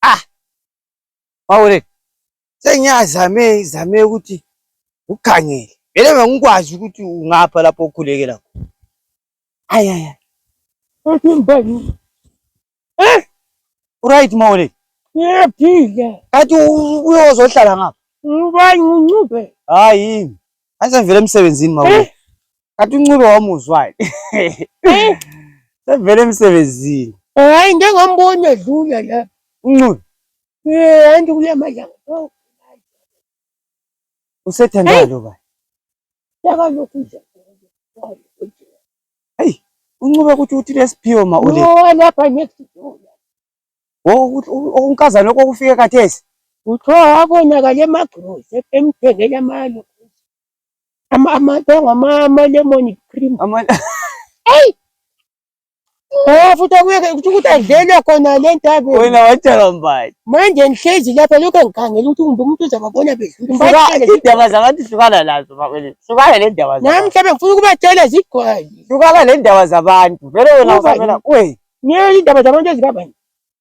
Ah! Mawule, sengiyazame izame ukuthi ukhangele. Vele bengikwazi ukuthi ungapha lapho okhulekela khona. Ayi ayi. Ethi mbali. Eh? Right Mawule. Ngiyaphila. Kathi uyozohlala ngapha. Ubani uncube? Hayi. Angisevele emsebenzini Mawule. Eh? Kanti uNcube wamuzwani? Eh. Sevele emsebenzini. Eh, hayi ngeke ngamboni edlula la. Uncube. Eh, hayi ndikule mali. Oh. Usethandwa lo ba. Yaka lokhu nje. Hey, uncube ukuthi uthi lesiphiwo ma ule. Oh, lapha next door. Oh, unkazana lokho kufike kathesi. Uthiwa wabonakala emagrosi emthengela amalo. amalemoni cream eyi Oh futhi akuyeke ukuthi ukuthi adlele khona le ntabeni. Wena watshelwa mbani? Manje ngihlezi lapha lokho ngikhangela ukuthi kumbe umuntu uzababona bedlula. Indaba zabantu hlukana nazo bakwethu. Hlukana le ndaba zabantu. Nami mhlawumbe ngifuna ukubatshela zigcwale. Hlukana le ndaba zabantu. Vele wena usamela we. Ngeke indaba zabantu ezibabani.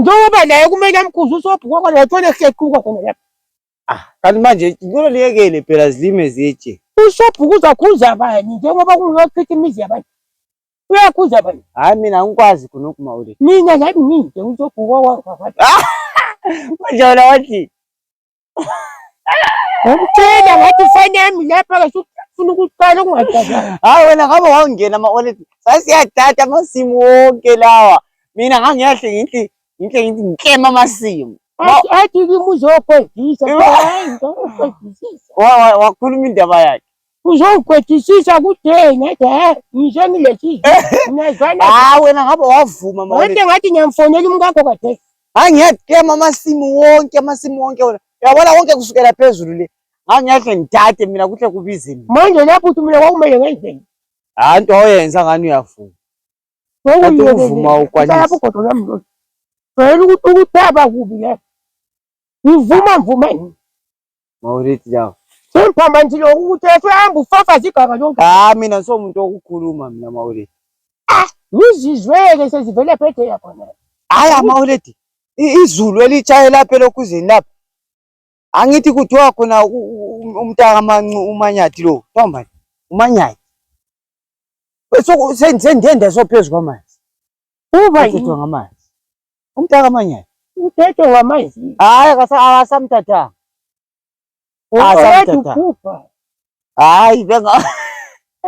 njengoba naye kumele amkhuze usobhuka kwalo wathole kuhlequka khona lapha ah kanti manje ngicela liyekele phela zilime zitshe usobhuka uzakhuza abanye njengoba kungochitha imizi yabanye uyakhuza abanye hayi mina angikwazi khona ukuma ule mina nami ngide usobhuka kwakho manje wena wathi Umcela ngathi ifoni yami lapha ke ufuna ukuqala ukungajabula. Hayi wena ngabe wawungena ama wallet. Sasiyadada amasimu wonke lawa. Mina ngangiyahle ngithi ngihle ngithi ngiklema amasimu. Athi athi kimi uzogodisa. Hayi ngizokugojisisa. Wakhuluma indaba yakhe. uzowukwetisisa kude ngathi he ngisho ngilethile ngiyazana hayi wena ngabe wavuma mawona wonke ngathi ngiyamfonela umkakho kade hayi ngiyadema amasimu wonke amasimu wonke wona uyabona konke kusukela phezulu le ngabe ngiyahle ngidade mina kuhle kubize mina manje lapho uthi mina kwakumele ngenzeni hayi into oyenza ngani uyavuma Kanti ukuvuma ukwanisa. lapho kodwa nami lo vele ukuthi ukuthaba kubi la ngivuma mvuma yini Mawulithi lawo. Semphambanisi lokhu ukuthi esehambe ufafaza iganga lonke. Cha mina ngisomuntu wokukhuluma mina Mawulithi. Ah, ngizizweke sezivele phethe yakhona. Hayi amawuledi izulu elitshaye lapha elokhuzeni lapha angithi kuthiwa khona umntaka mancu umanyathi lo kuthiwa mani umanyathi sendiyenda sophezu kwamanzi uba ngamanzi Umtaka amanyala. Uthethe wamazi. Hayi akasamthathanga. Akasamthathanga. Hayi benga